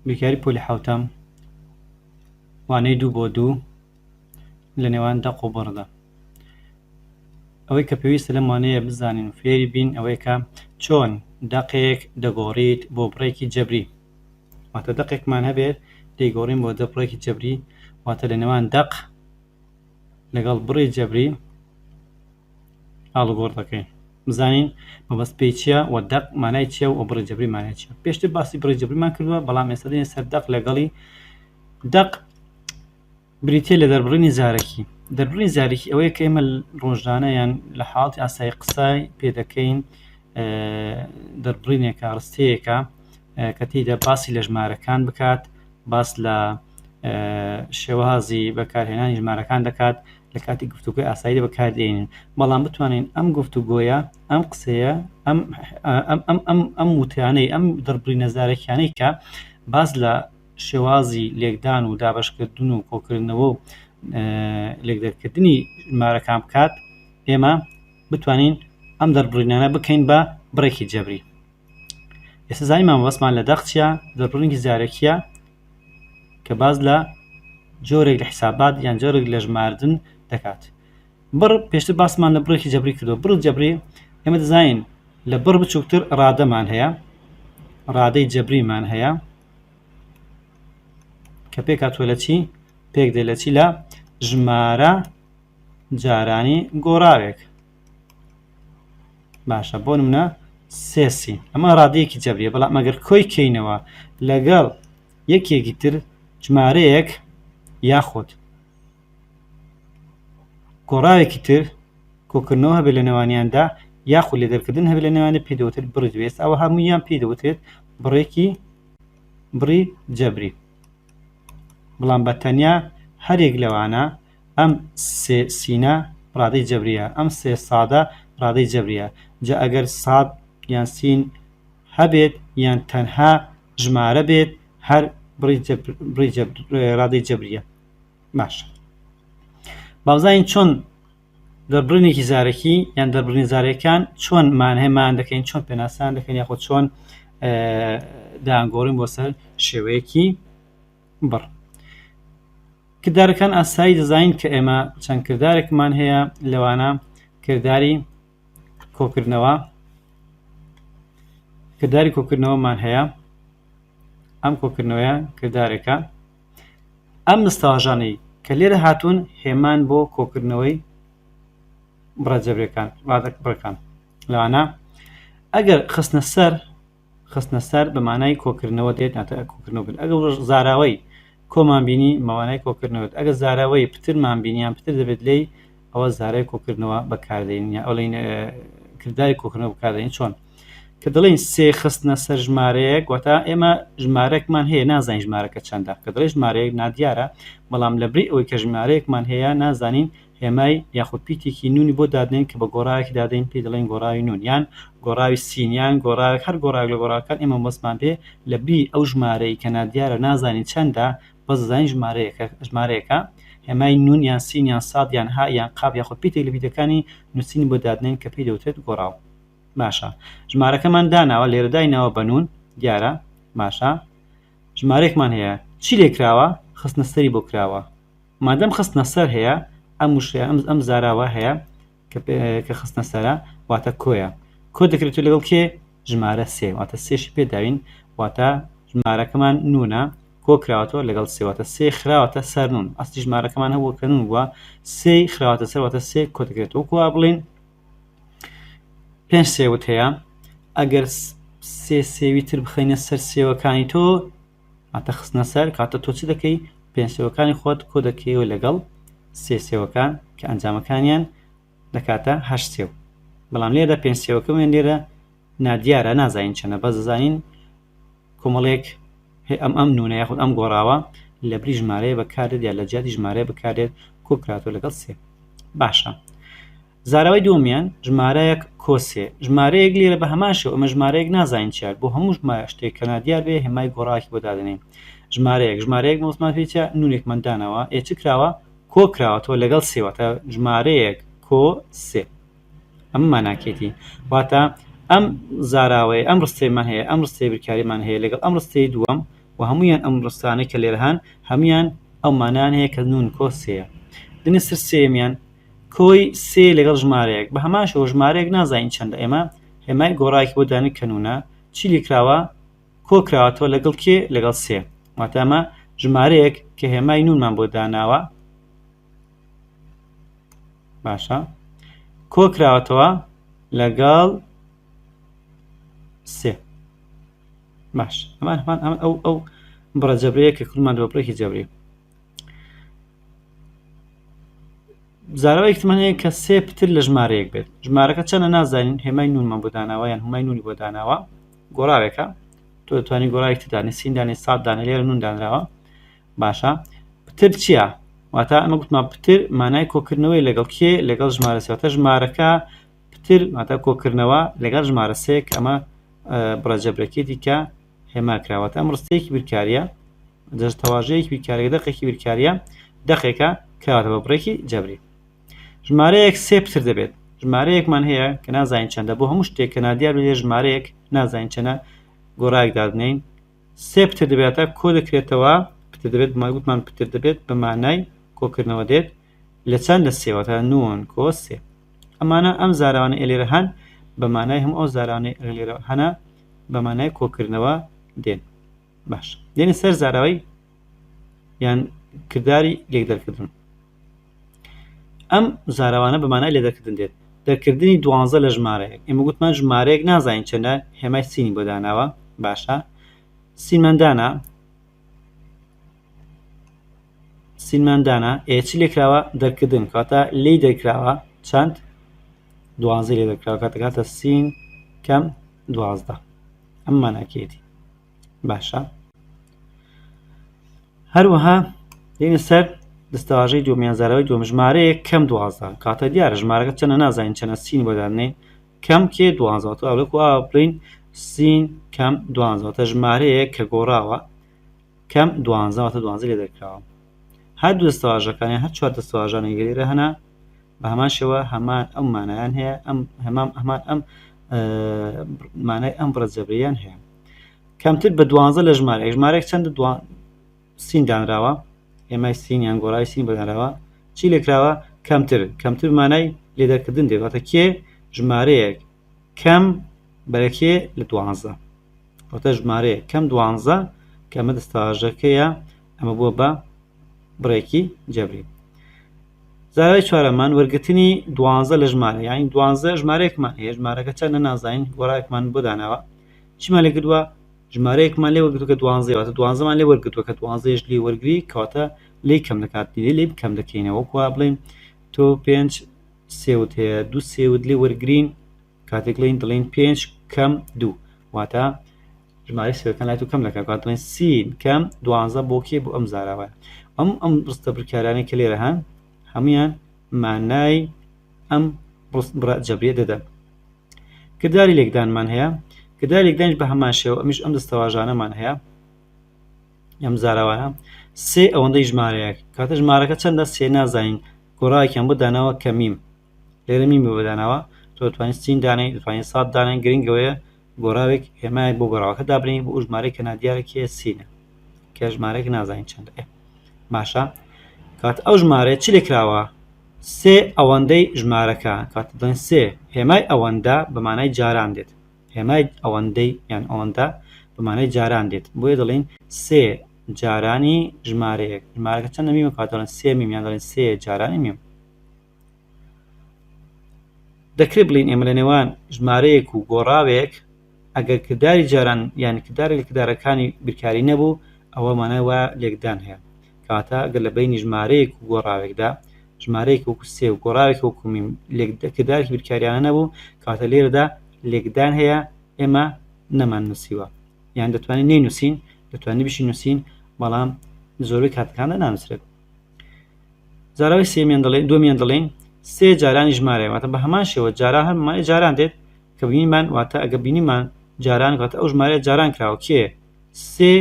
بیرکاری پۆلی حەوتەم وانەی دوو بۆ دوو لە نێوان دەق و بڕدا ئەوەی کە پێویستە لەم وانەیە بزانین و فێری بین ئەوەیە کە چۆن دەقێک دەگۆڕیت بۆ بڕێکی جەبری واتە دەقێکمان هەبێت دەیگۆڕین بۆ دە بڕێکی جەبری واتە لە نێوان دەق لەگەڵ بڕی جەبری ئاڵوگۆڕدەکەین بزانین مەبەست پێی چییە و دەق مانای چییە و بڕی جەبری مانای چیە پێشتر باسی بڕی جەبریمان کردووە بەڵام ئێستا دێنە سەر دەق لەگەڵی دەق بریتە لە دەربڕینی زارەکی دەربڕی زارەکی ئەوەیە کە ئێمە ڕۆژانەیان لە حاڵی ئاسای قسای پێدەکەین دەربڕینێکە ڕستەیەەکە کە تێدا باسی لە ژمارەکان بکات باس لە شێوازی بەکارهێنانی ژمارەکان دەکات لە کاتی گفتوگۆی ئاسایی بەکاردێنین بەڵام بتوانین ئەم گفتوگۆیە ئەم قسەیە ئەم ئەم ئەم ئەم وتیانەی ئەم دڕبلی نەزارەکیانەی کە باز لە شێوازی لێکدان و دابشکردن و کۆکردنەوە و لێکدەرکردنی مارەکان بکات ئێمە بتوانین ئەم دەربڕینانە بکەین بە بڕێکی جەبری ئێستا زانیمان مەبەستمان لە دەق چیە دەق بڕینگی زارەکیە کە باز لە جۆرێک لە حیسابات یان جۆرێک لە ژماردن دەکات بڕ پێشتر باسمان لە بڕێکی جەبری کردو بڕ جەبری ئێمە دەزانین لە بڕ بچووکتر ڕادەمان هەیە ڕادەی جەبریمان هەیە کە پێکاتوە لە چی پێک دێ لە چی لە ژمارە جارانی گۆڕاوێک باشە بۆ منە سێسی ئەمە ڕادەیەکی جەبریە بەڵام ئەگەر کۆی کەینەوە لەگەڵ یەکێکی تر ژمارەیەک یاخود گۆڕاوێکی تر کۆکردنەوە هەبێت لە نێوانیاندا یاخود لە دەرکردن هەبێت لە نێوانە پێی دەوتر بڕی دوێست ئەوە هەموویان پێی دەوترێت بڕێکی بڕی جەبری بەڵام بە تەنیا هەرێک لەوانە ئەم سێ سینە ڕادەی جەبریە ئەم سێ سادە ڕادەی جەبریە جا ئەگەر ساد یان سین هەبێت یان تەنها ژمارە بێت هەر بڕی جەبر بڕی جەبر ڕادەی جەبریە باشە بابزانین چۆن دەربڕینێکی زارەکی یان دەربڕین زارەکان چۆن مانهێمان دەکەین چۆن پێناسان دەکەین یاخۆ چۆن دایانگۆڕین بۆ سەر شێوەیەکی بڕ. کردارەکان ئاسایی دەزانین کە ئێمە چەند کردارێکمان هەیە لەوانە کرداری کۆکردنەوە کرداری کۆکردنەوەمان هەیە ئەم کۆکردنەوەیە کردارێکە ئەم مستاژانەی کە لێرە هاتوون هێمان بۆ کۆکردنەوەی بڕە جەبرەکان ڕادەک بڕەکان لەوانە ئەگەر خستنە سەر خستنە سەر بە مانای کۆکردنەوە دێت ناتە کۆکردنەوە کرد ئەگە زاراوەی کۆمان بینی مەوانای کۆکردنەوەت ئەگە زاراوەی پترمان بینیان پتر دەبێت لی ئەوە زارای کۆکردنەوە بەکاردێن یا ئەڵین کرداری کۆکردنەوە بکاردێن چۆن کە دەڵێن سێ خستنە سەر ژمارەیەک وەتا ئێمە ژمارەکمان هەیە نازین ژمارەکە چەندە کە دڵێ ژمارەیەک نادیارە بەڵام لە بری ئەوەی کە ژمارەیەکمان هەیە نازانین هێمای یاخود پیتێکی نوونی بۆ دادنێن کە بە گۆڕاوێکی دادەین پێی دەڵێین گۆڕاوی نوون یان گۆڕاوی سین یان گۆڕاوێک هەر گۆڕاوێک لە گۆڕاوەکان ئێمە مەبەستمان پێ لە بی ئەو ژمارەی کە نادیارە نازانین چەندە بەس دەزانین ژمارەیەکە ژمارەیەکە هێمای نوون یان سین یان ساد یان ها یان قاف یاخود پیتێک لە پیتەکانی نووسین بۆ دادنێن کە پێی دەوترێت گۆڕاو باشە ژمارەکەمان داناوە لێرە دایناوە بە نوون دیارە باشە ژمارەێکمان هەیە چی لێ کراوە خستنە سەری بۆ کراوە مادەم خستنە سەر هەیە ئەم وشەیە ئەم ئەم زاراوە هەیە کە پێ- کە خستنە سەرە واتە کۆیە کۆ دەکرێت و لەگەڵ کێ ژمارە سێ واتە سێشی پێداوین واتە ژمارەکەمان نونە کۆ کراوەتەوە لەگەڵ سێ واتە سێ خراوەتە سەر نون ئەستی ژمارەکەمان هەبووە کە نون بووە سێ خراوەتە سەر واتە سێ کۆ دەکرێت وەکو وا بڵێن پێنج سێوت هەیە ئەگەر س- سێ سێوی تر بخەینە سەر سێوەکانی تۆ واتە خستنە سەر کاتە تۆ چ دەکەی پێنسێوەکانی خۆت کۆ دەکەیەوە لەگەڵ سێ سێوەکان کە ئەنجامەکانیان دەکاتە هەشت سێو بەڵام لێرە پێنسێوەکەمان لێرە نادیارە نازانین چەنە بەس دەزانین کۆمەڵێک ئەم ئەم نونە یاخود ئەم گۆڕاوە لە بری ژمارەیە بەکارێت یا لە جیاتی ژمارەیە بکارێت کۆکراتۆ لەگەڵ سێ باشە زاراوەی دووەمیان ژمارەیەک کۆسێ ژمارەیەک لێرە بە هەمان شێوە ئەمە ژمارەیەک نازانین چیار بۆ هەموو ژمارە شتێک کە نادیار بێ هێمای گۆڕاکی بۆ دادەنێن ژمارەیەک ژمارەیەک مۆزمان پێ چیە نونێکمان داناوە ئێ چ کراوە کۆ کراوەتەوە لەگەڵ سێ واتە ژمارەیەک کۆ سێ ئەمە ماناکێتی واتە ئەم زاراوەیە ئەم ڕستەیمان هەیە ئەم ڕستەی بریکاریمان هەیە لەگەڵ ئەم ڕستەی دووەم و هەمویان ئەم ڕستانەی کە لێرە هەن هەمویان ئەو مانان هەیە کە نون کۆ سێیە دنیسر سێمیان کۆی سێ لەگەڵ ژمارەیەک بە هەمان شێوە ژمارەیەک نازانین چەندە ئێمە هێمای گۆڕایەکی بۆ دانین کە نونە چی لیکراوە کۆ کراوەتەوە لەگەڵ کێ لەگەڵ سێ واتە ئەمە ژمارەیەک کە هێمای نونمان بۆ داناوە باشە کۆ کراوەتەوە لەگەڵ سێ باش ئەمان هەمان ئەم ئەو ئەو بڕە جەبرەیە کە کورمان دۆپرێکی جەبری زاراوە ئیحتیمال هەیە کە سێ پتر لە ژمارەیەک بێت ژمارەکە چەنە نازانین هێمای نونمان بۆ داناوە یان هەمای نونی بۆ داناوە گۆڕاوێکە تۆ توانی گۆڕاوێک تدانێت سیندانی سات دانە لێرە نون دانراوە باشە پتر چییە واتە ئەمە گوتمان پتر مانای کۆکردنەوەی لەگەڵ کێ لەگەڵ ژمارە سێتە ژمارەکە پتر ماتە کۆکردنەوە لەگەڵ ژمارە سێک ئەمە بڕەجەبرەکێتی کە هێماکراوەتە ئەم ڕستەیەکی بیرکاریە دەستەواژەیەکی بیرکاریگە دەقێکی بیرکارییە دەقێکە کراوەتە بە بڕێکی جەبری ژمارەیەک سێ پتر دەبێت ژمارەیەکمان هەیە کە نازانین چەندە بۆ هەموو شتێک کە نادیار بێ ژمارەیەک نازانین چەنە گۆڕایەک دادنین سێ پتر دەبێتە کۆ دەکرێتەوە پتر دەبێت ماگوتمان پتر دەبێت بە مانای کۆکردنەوە دێت لە چەند لە سێوەتە نون کۆ سێ ئەمانە ئەم زارانە ئێلێرە هەن بە مانای هەم ئەو زارانەی ئەلێرە هەنا بە مانای کۆکردنەوە دێن باش دێنە سەر زاراوەی یان کردداری لێک دەرکردن ئەم زارەوانە بەمانای لێ دەکردن دێت دەرکردنی دوانزە لە ژمارەیەک ئێمە گوتمان ژمارەیەک نازانین چەندە هێمای سینی بۆ داناوە باشە سیمەندانە سیمەندانە ئێچ لێکراوە دەرکردن کاتە لی دەرکراوە چەند دوازی لێ دەکراوە کاتەکاتە سین کەم دوازدە ئەم ماناکێتی باشە هەروەها دێنە سەر دەستەواژەی دومیانزارەوەی دوم ژمارەیە کەم دوازدە کاتە دیارە ژمارەکە چەنە نازانین چەنە سین بۆدانێ کەم کێ دوازەوە ئەوەکو بڵین سین کەم دوازەوەتە ژمارەیە کە گۆڕاوە کەم دوانزە واتە دوانزە لێ دەرکراوە هەر دوو دەستەواژەکان یان هەر چوار دەستەواژانێک لە لێرە هەنا بە هەمان شێوە هەمان ئەم مانایان هەیە ئەم هەمان هەمان ئەم مانای ئەم بڕە جەبریان هەیە کەمتر بە دوانزە لە ژمارە ژمارێک چەند دوان سین دانراوە ئێمای سین یان گۆڕای سین بەدانراوە چی لێکراوە کەمتر کەمتر مانای لێدەکردن دێت واتە کێ ژمارەیەک کەم بەرەکێ لە دوانزە واتە ژمارەیە کەم دوانزە کە ئەمە دەستەواژەکەیە ئەمە بووە بە بڕێکی جەبری زارای چوارەمان وەرگتنی دوانزە لە ژمارە یاین دوانزە ژمارەیەکمان هەیە ژمارەکە چەند نە نازانین گۆڕایەکمان بۆ داناوە چیمان لە گردووە ژمارەیەکمان لێ وەرگتوکە دوانزەوەتە دوانزەمان لێ وەرگتووە کە دوانزەش لێ وەرگری کەواتە لی کەم دەکات لێ لی بکەم دەکەینەوە کو بڵێن تۆ پێنج سێوت هەیە دوو سێوت لێ وەرگین کاتێک لین دەڵێین پێنج کەم دوو واتە ژمارەی سێەکان لای تو کەم دەکات کات دەڵێن سین کەم دوانزە بۆ کێ بۆ ئەم زاراوە ئەم ئەم ڕستە بکارانەی کە لێرە هەن هەمویان مانای ئەم جەبرێ دەدەن کرداری لێکدانمان هەیە کرداری لێکدانش بە هەمان شێوە ئەمیش ئەم دەستەواژانەمان هەیە ئەم زاراوانە سێ ئەوەندەی ژمارەیەک کاتە ژمارەکە چەندە سێ نازانین گۆڕایکیان بۆ داناوە کەمیم لێرە میمی بۆ داناوە تۆ دەتوانیت سین دانێی دەتوانیت سات دانێن گرنگ ئەوەیە گۆڕاوێک هێمایەک بۆ گۆڕاوەکە دابنێی بۆ ژمارەی کە نادیارێک هەیە سینە کە ژمارەێک نازانین چەندە باشە کات ئەو ژمارە چ لێکراوە سێ ئەوەندەی ژمارەکە کات دڵێن سێ هێمای ئەوەندە بەمانای جاران دێت هێمای ئەوەندەی یان ئەوەندە بەمانای جاران دێت بۆیە دەڵێن سێ جارانی ژمارەیەک ژمارەکە چەندە میمە کات دەڵێن سێ میمیان دەڵێن سێ جارانی میم دەکرێت بڵێین ئێمە لە نێوان ژمارەیەک و گۆڕاوێک ئەگەر کرداری جاران یان کردارێک لە کردارەکانی بیرکاری نەبوو ئەوە مانای وایە لێکدان هەیە کەواتە ئەگەر لە بەینی ژمارەیەک و گۆڕاوێکدا ژمارەیەک وەکو سێ و گۆڕاوێکی وەکو میم کردارێکی بیرکاریانە نەبوو کەواتە لێرەدا لێکدان هەیە ئێمە نەمان نووسیوە یان دەتوانین نەینووسین دەتوانین بشی نووسین بەڵام زۆربەی کاتەکاندا نانووسرێت زاراوەی سێمیان دەڵێن دومیان دەڵێن سێ جارانی ژمارە واتە بە هەمان شێوە جارا هەر مای جاران دێت کە بینیمان واتە ئەگە بینیمان جاران واتە ئەو ژمارە جاران کراوە کێ سێ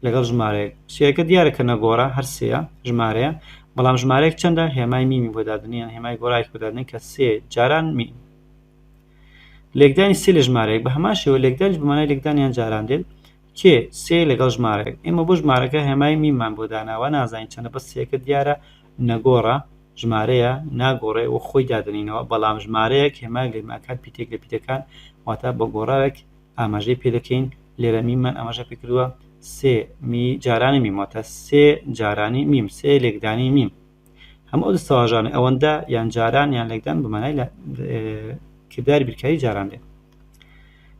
لەگەڵ ژمارەیەک سێەکە دیارەکە نەگۆڕە هەر سەیە ژمارەیە بەڵام ژمارەیەک چەندە هێمای میمی بۆدادنیان هێمای گۆڕایک بۆدادنی کە سێ جاران مین لێکدانی سێ لە ژمارەیەک بە هەمان شێوە لێکدانش بمانای لێکدانیان جاران دێت کێ؟ سێ لەگەڵ ژمارەیەک. ئێمە بۆ ژمارەکە هێمای مینمان بۆ داناوە، نازانین چەندە، بەس سێکە دیارە نەگۆڕە ژمارەیە، ناگۆڕێ و خۆی دادەنێینەوە، بەڵام ژمارەیەک هێمای گەرماکان پیتێک لە پیتەکان، واتە بە گۆڕاوێک ئاماژەی پێ دەکەین، لێرە مینمان ئاماژە پێ کردووە، سێ، می، جارانی میم، واتە سێ جارانی میم، سێ لێکدانی میم. هەموو ئەو دەستەواژانەی، ئەوەندە، یان جاران، یان لێکدان، بە مانای کرداری بیرکاری جاران دێن.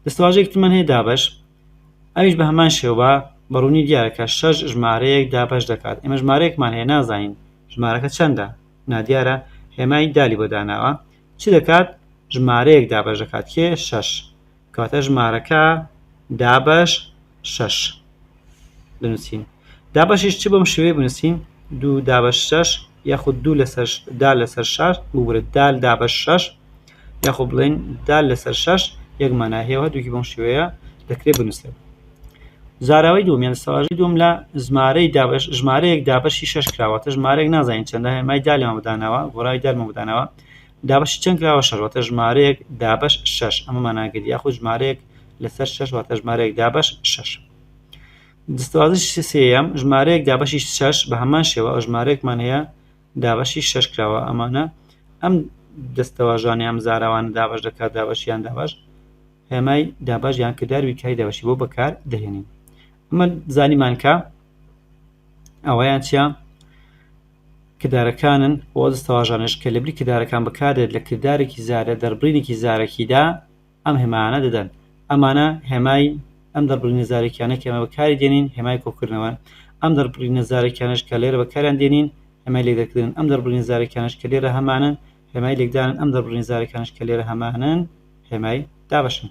دەستەواژەیەکی ترمان هەیە دابەش ئەویش بە هەمان شێوە بە ڕوونی دیارە کە شەش ژمارەیەک دابەش دەکات ئێمە ژمارەیەکمان هەیە نازانین ژمارەکە چەندە نادیارە هێمای دالی بۆ داناوە چ دەکات ژمارەیەک دابەش دەکات کێ شەش کەواتە ژمارەکە دابەش شەش بنووسین دابەشیش چ بەم شێوەیە بنووسین دوو دابەش شەش یاخود دوو لەسەر دا لەسەر شار ببورە دال دابەش شەش یاخۆ بڵێن دال لەسەر شەش یەک مانا هەیە هەردووکی بەم شێوەیە دەکرێت بنووسێت زاراوەی دومیان سەواژی دوم لە ژمارەی دابش ژمارەیەک دابشی شش کراوەتە ژمارەێک نازانین چەندە هێمای دالێمە بدانەوە گۆرای دەرمە بدانەوە دابشی چەند کراوە شەروەتە ژمارەیەک دابش شش ئەمە ماناگەری یاخود ژمارەیەک لەسەر شەش واتە ژمارەیەک دابەش شەش دەستوازش سێەم ژمارەیەک دابەشی شەش بە هەمان شێوە ئەو ژمارەیەکمان هەیە دابەشی شەش کراوە ئەمانە ئەم دەستەواژانی ئەم زاراوان دابش دەکات دابشیان دابش هێمای دابش یان کرداروی کای دابشی بۆ بەکار دەهێنین ئەمە زانیمانکە ئەوەیان چیا کردارەکانن بۆ دەستەواژانش کە لەبری کردارەکان بکارێت لە کردارێکی زارە دەربڕینێکی زارەکیدا ئەم هێمایانە دەدەن. ئەمانە هێمای ئەم دەربڕینە زارەکیانە کە ئێمە بەکاری دێنین، هێمای کۆکردنەوەن. ئەم دەربڕینە زارەکیانەش کە لێرە بەکاریان دێنین، هێمای لێکدەرکردنن. ئەم دەربڕینە زارەکیانەش کە لێرە هەمانن، هێمای لێکدانن. ئەم دەربڕینە زارەکانەش کە لێرە هەمانن، هێمای دابەشن.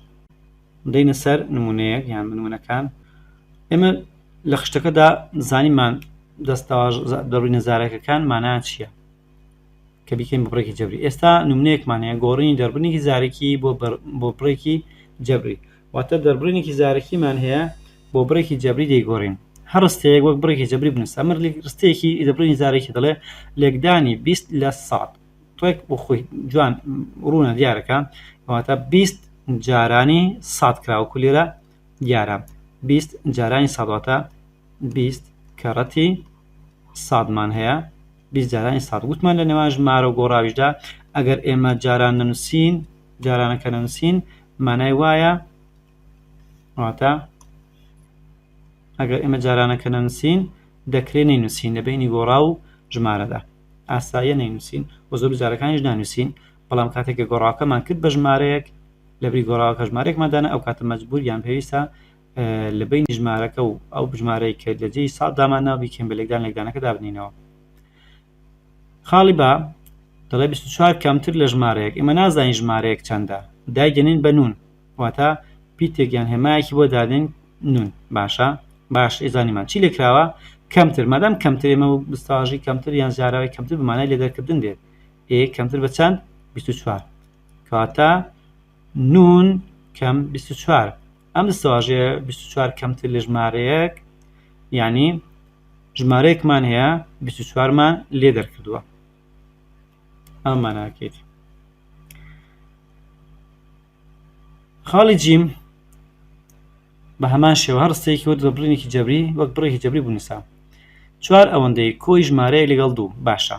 دێینە سەر نموونەیەک یان نموونەکان. ئێمە لە خشتەکەدا زانیمان دەستەواژە، دەربڕینە زارەکەکان مانایان چییە؟ کە بیکەین بە بڕێکی جەبری ئێستا نمونەیەکمان هەیە گۆڕینی دەربڕینێکی زارەکی بۆ بۆ بڕێکی جەبری واتە دەربڕینێکی زارەکیمان هەیە بۆ بڕێکی جەبری دەیگۆڕین هەر ڕستەیەک وەک بڕێکی جەبری بنووسە ئەمە ڕستەیەکی دەبڕینی زارەکی دەڵێ لێکدانی بیست لە سەد ڕێک بۆ خۆی جوان ڕوونە دیارەکە واتە بیست جارانی سات کراوەکو لێرە دیارە بیست جارانی ساڵاتە بیست کەڕەتی سادمان هەیە بیست جارانی ساڵ وتمان لە نێوان ژمارە و گۆڕاویشدا ئەگەر ئێمە جاران نەنووسین جارانەکە نەنووسین مانای وایە واتە ئەگەر ئێمە جارانەکە نەنووسین دەکرێت نەینووسین لە بینی گۆڕا و ژمارەدا ئاساییە نەینووسین و زۆر جارەکانیش نانووسین بەڵام کاتێک کە گۆڕاکەمان کرد بە ژمارەیەک لەبری گۆڕاوەکە ژمارێکمادانە ئەو کاتە مەجبور یان پێویستە لە بەینی ژمارەکە و ئەو بژمارەی کە لە جێی سات دامان ناو بیکەین بە لێکدان لێکدانەکە دابنینەوە خاڵی با دەڵێ 24 کەمتر لە ژمارەیەک ئێمە نازانین ژمارەیەک چەندە دایدەنین بە نون واتە پیتێکیان هێمایەکی بۆ دادێن نون باشە باش ئێزانیمان چی لێکراوە کەمتر مادام کەمتر ئێمە بستاژی کەمتر یان زیاراوی کەمتر بمانای لێ دەرکردن دێت ئێ کەمتر بە چەند 24 کەواتە نون کەم 24 ئەم دەستەواژەیە بیست و چوار کەمتر لە ژمارەیەک یانی ژمارەیەکمان هەیە بیست و چوارمان لێ دەرکردووە ئەم ماناکەیت خاڵی جیم بە هەمان شێوە هەر ڕستەیەکی وەرد بە بڕینێکی جەبری وەک بڕێکی جەبری بنووسە چوار ئەوەندەی کۆی ژمارەیەک لەگەڵ دوو باشە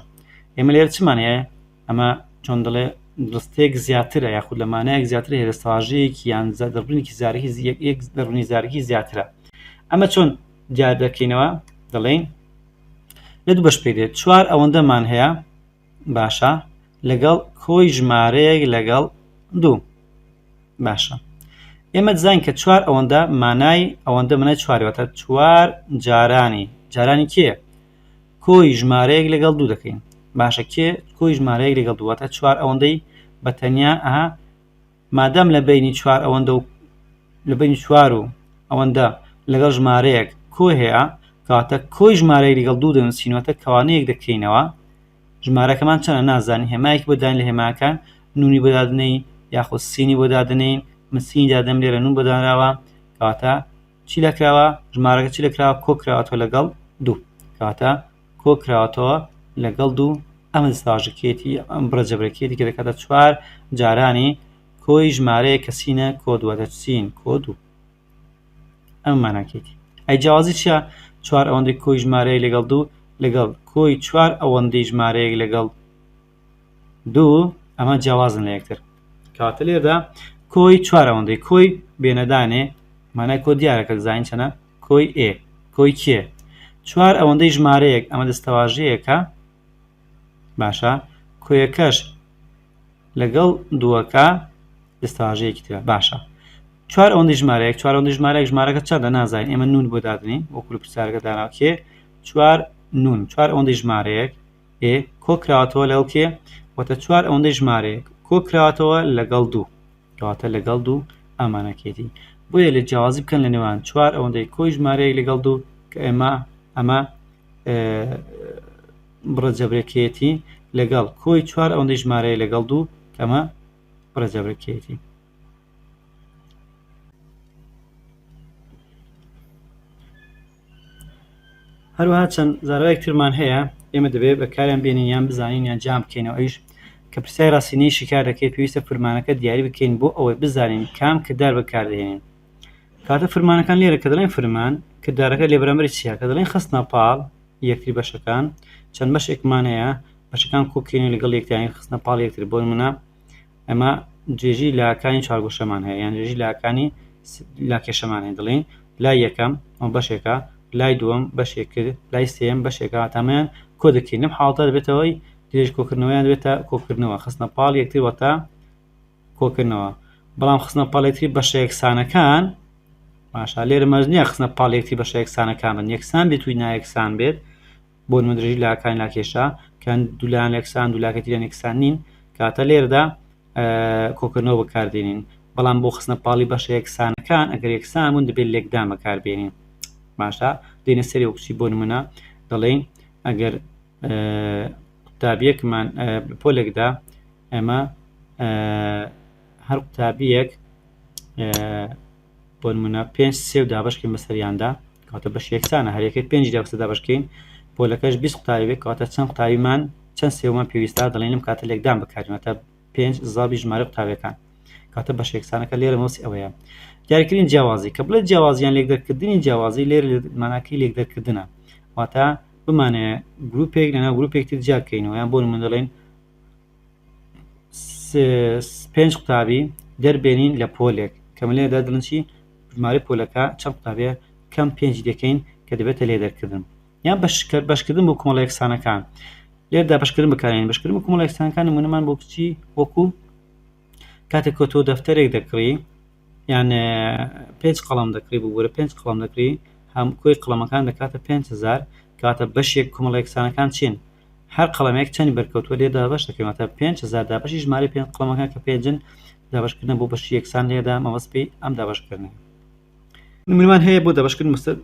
ئێمە لێرە چمان هەیە ئەمە چۆن دەڵێ ڕستەیەک زیاترە یاخود لە مانایەک زیاتر هێرە ساژەیەکی یان دەڕبنێکی زارکی یەک دەڕنی زارکی زیاترە ئەمە چۆن دیار دەکەینەوە دەڵێین لە دوو بەش پێ دێت چوار ئەوەندەمان هەیە باشە لەگەڵ کۆی ژمارەیەک لەگەڵ دوو باشە ئێمە دزان کە چوار ئەوەندە مانای ئەوەندە منای چواروەتە چوار جارانی جارانی کێ کۆی ژمارەیەک لەگەڵ دوو دەکەین باشە کێ کۆی ژمارەیەک لەگەڵ دوو واتە چوار ئەوەندەی بە تەنیا ئەها مادەم لە بینی چوار ئەوەندە و لە بینی چوار و ئەوەندە لەگەڵ ژمارەیەک کۆ هەیە کاتە کۆی ژمارەیەک لەگەڵ دوو دەنووسینەوەتە کەوانەیەک دەکەینەوە ژمارەکەمان چەنە نازانین هێمایەکی بۆ داین لە هێماکان نونی بەدادنەی یاخود سینی بۆ دادنین من سینی دادەم لێرە نون بەدانراوە کەواتە چی لە کراوە ژمارەکە چی لە کراوە کۆ کراوەتەوە لەگەڵ دوو کاتە کۆ کراوەتەوە لەگەڵ دوو ئەمە ساژکێتی ئەم بڕە جەبرەکێتی کە دەکاتە چوار جارانی کۆی ژمارەیە کەسینە کۆ دووە دەچین کۆ دوو ئەم ماناکێتی ئەی جیاوازی چیە چوار ئەوەندەی کۆی ژمارەیە لەگەڵ دوو لەگەڵ کۆی چوار ئەوەندەی ژمارەیەک لەگەڵ دوو ئەمە جیاوازن لە یەکتر کەواتە لێردا کۆی چوار ئەوەندەی کۆی بێنەدانێ مانای کۆ دیارە کە دەزانین چەنە کۆی ئێ کۆی کێ چوار ئەوەندەی ژمارەیەک ئەمە دەستەواژەیەکە باشە کۆیەکەش لەگەڵ دووەکە دەستەواژەیەکی ترە باشە چوار ئەوەندەی ژمارەیەک چوار ئەوەندەی ژمارەیەک ژمارەکە چەندە نازانین ئێمە نون بۆ دادنین وەکو پرسیارەکە داناوکێ چوار نون چوار ئەوەندەی ژمارەیەک ئێ کۆ کراوەتەوە لەگەڵ کێ؟ واتە چوار ئەوەندەی ژمارەیەک کۆ کراوەتەوە لەگەڵ دوو کەواتە لەگەڵ دوو ئەمانەکێتی بۆیە لە جیاوازی بکەن لە نێوان چوار ئەوەندەی کۆی ژمارەیەک لەگەڵ دوو کە ئێمە ئەمە بڕە جەبرەکێتی لەگەڵ کۆی چوار ئەوەندەی ژمارەیە لەگەڵ دوو کەمە بڕە جەبرەکێتی هەروەها چەند زاراوەیەک ترمان هەیە ئێمە دەبێت بەکاریان بێنین یان بزانین یان جیان بکەینەوە ئەویش کە پرسیاری ڕاستینەی شیکار دەکەین پێویستە فرمانەکە دیاری بکەین بۆ ئەوەی بزانین کام کردار بەکاردەهێنین کاتە فرمانەکان لێرە کە دەڵێن فرمان کردارەکە لێ بەرامبەری چیە کە دەڵێن خستنە پاڵ یەکتری بەشەکان چەند بەشێکمان هەیە بەشەکان کۆکرێنی لەگەڵ یەکتریانی خستنە پاڵ یەکتر بۆ نمونە ئەمە درێژی لاکانی چوارگۆشەمان هەیە یان درێژی لاکانی لاکێشەمان هەیە دەڵێن لای یەکەم ئەو بەشێکە لای دووەم بەشێک کرد لای سێم بەشێکە تامیان کۆ دەکەین لەم حاڵتە دەبێتەوەی درێژ کۆکردنەوەیان دەبێتە کۆکردنەوە خستنە پاڵ یەکتر وەتا کۆکردنەوە بەڵام خستنە پاڵێکتری بەشە یەکسانەکان باشە لێرە مەرج نییە خستنە پاڵێکتری بەشە یەکسانەکان بن یەکسان بێت توی نایەکسان بێت بۆ نموونە درێژی لاکانی لاکێشە کە دوو لایان یەکسان دوو لاکە تیران یەکسان نین کاتە لێردا کۆکردنەوە بەکاردێنین بەڵام بۆ خستنە پاڵی بەشە یەکسانەکان ئەگەر یەکسان بوون دەبێت لێکدان بەکاربێنین باشە دێنە سەری وکچی بۆ نمونە دەڵێین ئەگەر قوتابیەکمان پۆلێکدا ئەمە هەر قوتابیەک بۆ نمونە پێنج سێ و دابشکین بەسەریاندا کەواتە بەش یەکسانە هەر یەکەی پێنجی دا بەسەر دابشکین پۆلەکەش بیست قوتابی بێت کەواتە چەند قوتابیمان چەند سێومان پێویستە دەڵێن لەم کاتە لێکدان بکارین واتە پێنج زابی ژمارە قوتابیەکان کاتە بەش یەکسانەکە لێرە مەوسی ئەوەیە دیاریکردنی جیاوازی کە بڵێ جیاوازیان لێک دەرکردنی جیاوازی لێر ماناکەی لێک دەرکردنە واتە بمانەیە گروپێک لەناو گروپێکتر جیاکەینەوە یان بۆ من دەڵێن پێنج قوتابی دەر بێنین لە پۆلێک کە ملێ دە دڵن چی ژمارە پۆلەکە چەند قوتابێ کەم پێنج دەکەین کە دەبێتە لێ دەرکردن یان بەشکە بەشکردن بۆ کۆمەڵە یەکسانەکان لێردا بەشکردن بەکارێن بەشکردن بۆ کۆمەڵە یەکسانەکان نمونەمان بۆ بچی وەکو کاتێک کە تۆ دەفتەرێک دەکڕی یان پێنج قەڵم دەکڕی ببوورە پێنج قەڵم دەکری هەم کۆی قڵەمەکان دەکاتە 5هزار کاتە بەشێک کومەڵێکسانەکان چین هەر قەڵمێک چەند بەرکەوتوە لێ دابش دەکەمەتە 5هزار دا بەشی ژمارە پێ قڵمەکان کە پێنجن دابشکردن بۆ بەشی یەکسان لێدا مەوەسپی ئەم دابشکردن نمونمان هەیە بۆ دابشکردن مستەر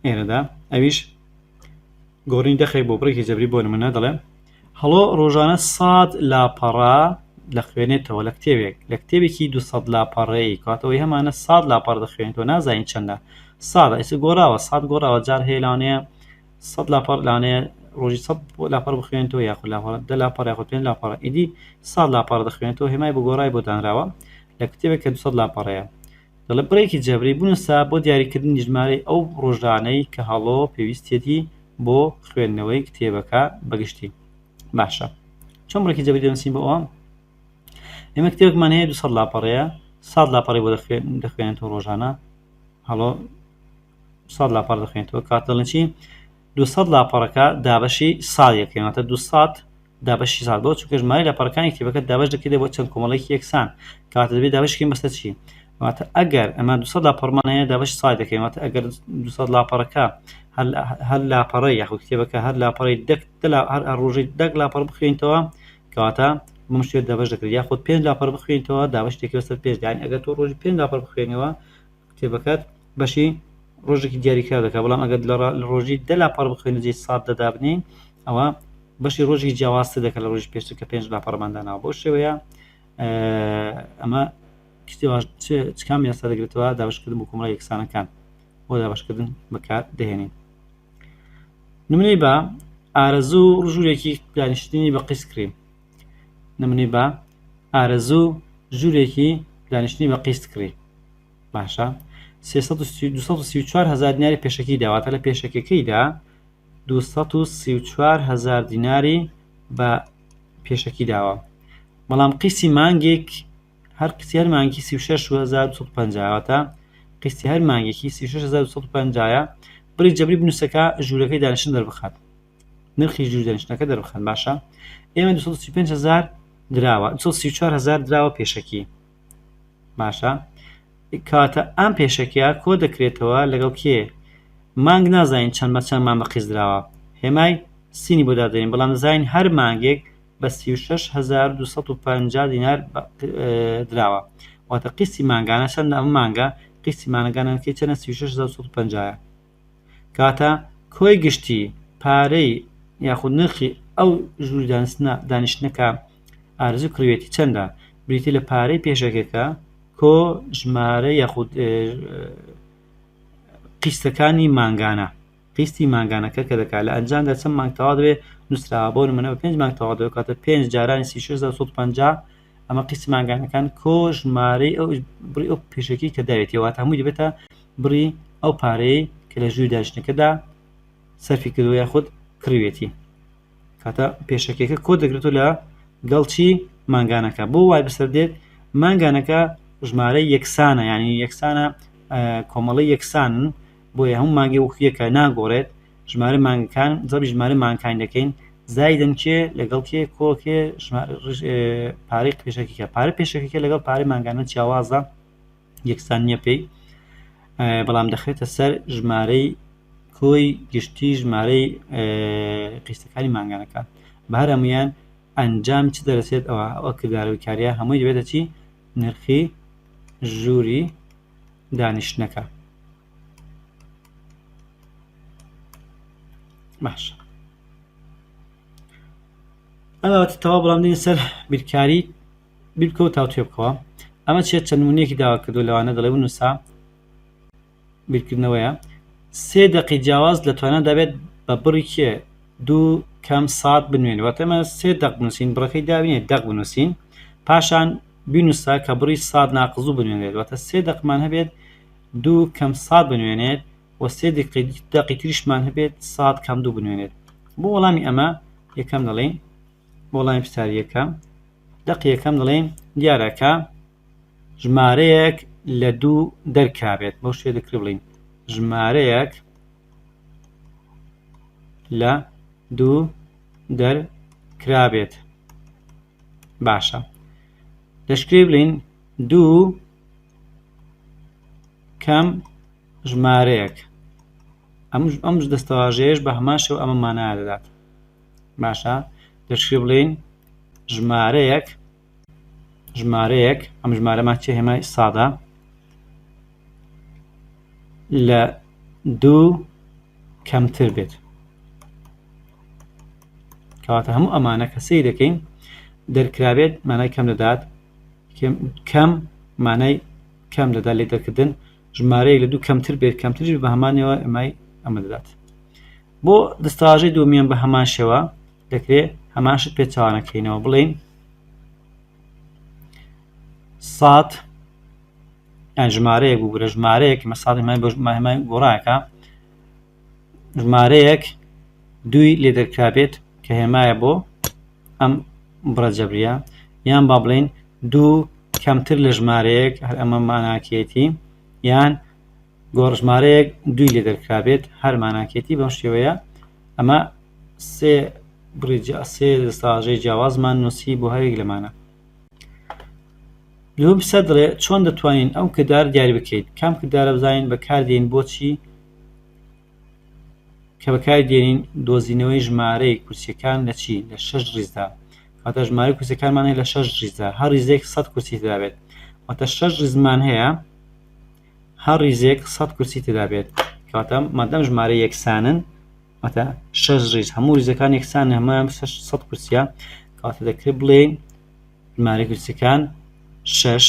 ئێرەدا ئەویش گۆڕینی دەقێک بۆ بڕێکی جەبری بۆ نمونە دەڵێم هەڵۆ ڕۆژانە سەد لاپەڕە دەخوێنێتەوە لە کتێبێک لە کتێبێکی دو سەد لاپەڕەیی کاتەوەی هەمانە سەد لاپەڕە دەخوێنێتەوە نازانین چەندە ساڵە ئیسە گۆڕاوە سەد گۆڕاوە جار هەیە لەوانەیە سەد لاپەڕ لەوانەیە ڕۆژی سەد لاپەڕ بخوێنێتەوە یاخود لاپەڕە دە لاپەڕ یاخود پێنج لاپەڕە ئیدی سەد لاپەڕ دەخوێنێتەوە هێمای بۆ گۆڕای بۆ دانراوە لە کتێبێک کە دو سەد لاپەڕەیە دەڵێت بڕێکی جێبری بنووسە بۆ دیاریکردنی ژمارەی ئەو ڕۆژانەی کە هەڵۆ پێویستیەتی بۆ خوێندنەوەی کتێبەکە بە گشتی باشە چۆن بڕێکی جێبری دەنووسین بۆ ئەوە ئێمە کتێبێکمان هەیە 200 لاپەڕەیە ساد لاپەڕی بۆ دەخوێن دەخوێنێت و ڕۆژانە هەڵۆ ساد لاپەڕ دەخوێنێتەوە کات دەڵێن چی 200 لاپەڕەکە دابەشی ساڵیەکەیانەتە 200 دابەشی ساڵ بۆ چونکە ژمارەی لاپەڕەکانی کتێبەکەت دابەش دەکرێت بۆ چەند کۆمەڵەیەکی یەکسان کەواتە دەبێت دابەش کەین بەسەر چی واتە ئەگەر ئەمە 200 لاپەڕمان هەیە دابەش ساڵ دەکەین واتە ئەگەر 200 لاپەڕەکە هەر لاپەڕی یاخود کتێبەکە هەر لاپەڕی دەک هەر ڕۆژی دەک لاپەڕ بخوێنیتەوە کەواتە بم شوێت دابەش دەکرێت یاخود پێنج لاپەڕ بخوێنیتەوە دابەش دەکرێت سەر پێنج دانی ئەگەر تۆ ڕۆژی پێنج لاپەڕ بخوێنەوە کتێبەکەت بەشی ڕۆژێکی دیاریکراو دەکات بەڵام ئەگەر لە ڕۆژی دە لاپەڕ بخوێنە جێی سات دە دابنێین ئەوە بەشی ڕۆژێکی جیاوازتر دەکات لە ڕۆژی پێشتر کە پێنج لاپەڕمان داناوە بۆ شێوەیە ئەمە کام یاسا دەگرێتەوە دابشکردن بۆ کۆمەڵە یەکسانەکان بۆ دابشکردن بەکار دەهێنین نمونەی بە ئارەزوو ڕژوورێکی دانیشتنی بە قیسکرین نمونەی با ئارەزوو ژوورێکی دانیشتنی بە قیست کڕی باشە سێ سەد و سی- دوو سەد و سی و چوار هەزار دیناری پێشەکی دا واتە لە پێشەکیەکەیدا دوو سەد و سی و چوار هەزار دیناری بە پێشەکی داوە بەڵام قیسی مانگێک هەر قیسی هەر مانگی سی و شەش و هەزار و دوو سەد و پەنجا واتە قیسی هەر مانگێکی سی و شەش هەزار و دوو سەد و پەنجایە بڕی جەبری بنووسەکە ژوورەکەی دانیشتن دەربخات نرخی ژیر دەنیشتنەکە دەربخەن باشە ئێمە دوو سەد و سی و پێنج هەزار دراوە دوو سەد و سی و چوار هەزار دراوە پێشەکی باشە کاتە ئەم پێشەکیە کۆ دەکرێتەوە لەگەڵ کێ مانگ نازانین چەند بە چەندمان بە قیز دراوە هێمای سینی بۆ دادەین بەڵام دەزانین هەر مانگێک بە 6250 دینار دراوە واتە قیسی مانگانە چەند ئەم مانگە قیسی مانگانەکەی چەنە 3650 کەواتە کۆی گشتی پارەی یاخود نرخی ئەو ژووری دانستنە دانیشتنەکە ئارزوو کڕوێتی چەندە بریتی لە پارەی پێشەکەکە کۆ ژمارە یاخود قیستەکانی مانگانە قیستی مانگانەکە کە دەکات لە ئەنجامدا چەند مانگ تەوا دەبێت نووسراوە بۆ نمونە بە پێنج مانگ تەوا دەکاتە پێنج جارانی سی شش هەزار و سەد و پەنجا ئەمە قیسی مانگانەکان کۆ ژمارەی ئەو بڕی ئەو پێشەکی کە داوێتی واتە هەمووی دەبێتە بڕی ئەو پارەیە کە لە ژووری داشتنەکەدا سەرفی کردو یا خودت کڕوێتی کاتە پێشەکێکە کۆ دەگرێتو لە گەڵچی مانگانەکە بۆ وای بەسەر دێت مانگانەکە ژمارە یەکسانە ینی یەکسانە کۆمەڵی یەکسان بۆیە هەموو مانگێ ووقفیەکە ناگۆڕێت ژمارە مانگەکان زەبری ژمارە مانگەکانی دەکەین زایدەن کێ لەگەڵ کێ کۆ کێ پارەی پێشەکیکە پارە پێشەکیکە لەگەڵ پارەی مانگانە چیاوازە یەکسان نییە پێی بەڵام دەخرێتە سەر ژمارەی کۆی گشتی ژمارەی قیستەکانی مانگانەکە بە هەرەمویان ئەنجام چ دەرەسێت ئەوە ئەوە کردارەوەی کارە هەمووی دەبێتە چی نرخی ژووری دانیشتنەکە باشە ئەوەتە تەوا بەڵام دێن سەر بیرکاری بیرکە و تاوتێ بکەوە ئەمە چێت چەند نمونەیەکی داوا کردو لەوانە دەڵێ و نووسا بیرکردنەوەیە سێ دقی جیاواز لە توانە دەبێت بە بڕی کێ دوو کەم سات بنوێن واتەمە سێ دەق بنووسین بڕەکەی داوینێ دەق بنووسین پاشان بینوسە کە بڕی سات ناقزو بنوێنرێت واتە سێ دەقمان هەبێت دوو کەم سات بنوێنێت و سێ دەقی تریشمان هەبێت سات کەم دوو بنوێنێت بۆ وەڵامی ئەمە یەکەم دەڵێن بۆ وەڵامی پرسیاریەکە دەقی یەکەم دەڵێن دیارەکە ژمارەیەک لە دوو دەرکابێت بۆ شوێ دەکری بڵین ژمارەیەک لە دوو دەرکرابێت باشە دەشکری بلین دوو کەم ژمارەیەک ئەمش ئەمش دەستەواژەیەش بە هەمان شێو ئەمە مانا دەدات باشە دەشکری بڵین ژمارەیەک ژمارەیەک ئەم ژمارەمان چێ هێمای سادە لە دوو کەمتر بێت کەواتە هەموو ئەمانە کە سەی دەکەین دەرکرابێت مانای کەم دەدات کەم مانای کەم دەدات لێ دەکردن ژمارەیەک لە دوو کەمتر بێت کەمترش بە هەمانەوە ئەمای ئەمە دەدات بۆ دەستاژەی دومیان بە هەمان شێوە دەکرێت هەماشت پێچوانەکەینەوە بڵین سات ژمارەیەک بگورە ژمارەیەک مەساڵی مای بە ماهمای گۆڕاکە ژمارەیەک دووی لێ دەرکرابێت کە هێمایە بۆ ئەم بڕە جەبریە یان با بڵین دوو کەمتر لە ژمارەیەک هەر ئەمە ماناکێتی یان گۆڕژمارەیەک دووی لێ دەرکرابێت هەر ماناکێتی بەم شێوەیە ئەمە سێ بڕی سێ دەستاژەی جیاوازمان نووسی بۆ هەرێک لەمانە لەم سەدرێ چۆن دەتوانین ئەو کردار دیاری بکەیت کام کردارە بزانین بەکاردێن بۆچی کە بەکاری دێنین دۆزینەوەی ژمارەی کورسیەکان لە چی لە شەش ڕیزدا واتە ژمارە کورسەکانمان هەیە لە شەش ڕیزدا هەر ڕیزێک سەد کورسی تدابێت واتە شەش ڕزمان هەیە هەر ڕیزێک سەد کورسی تدابێت کاتە مادەم ژمارە یەکسانن واتە شەش ڕیز هەموو ریزەکان یەکسان هەمان سەد کورسە کاتە دەکرێت بڵێ ژمارە کورسەکان شەش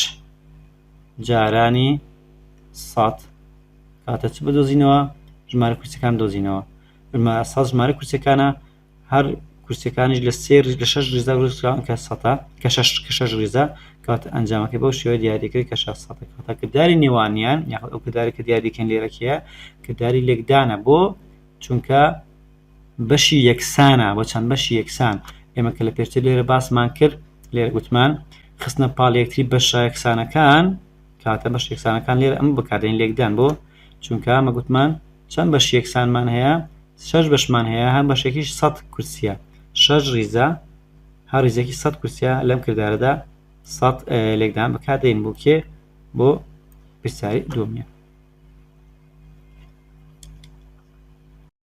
جارانی سەد کاتە چ بدۆزینەوە ژمارە کورسەکان دۆزینەوە سەد ژمارە کورسەکانە هەر کورسەکانیش لە سێر لە شش ریزا ڕووسراون کە سەتا کە شش کە شش ریزا کات ئەنجامەکە بەو شێوە دیاریکرد کە شش سەد کاتە کردداری نێوانیان یاخود ئەو کردارێکە دیاریکەن لێرەکەیە کردداری لێکدانە بۆ چونکە بەشی یەکسانە بۆ چەند بەشی یەکسان ئێمە کە لە پێشتر لێرە باسمان کرد لێرە گوتمان خستنە پاڵ یەکتری بەشە یەکسانەکان کاتە بەش یەکسانەکان لێرە ئەم بکاتێن لێکدان بۆ چونکە ئەمە گوتمان چەند بەش یەکسانمان هەیە شەش بەشمان هەیە هەم بەشێکیش سەد کورسیە شەش ریزە هەر ریزێکی سەد کورسیە لەم کردارەدا سەد لێکدان بکاتێن بۆ کێ بۆ پرسیاری دومیان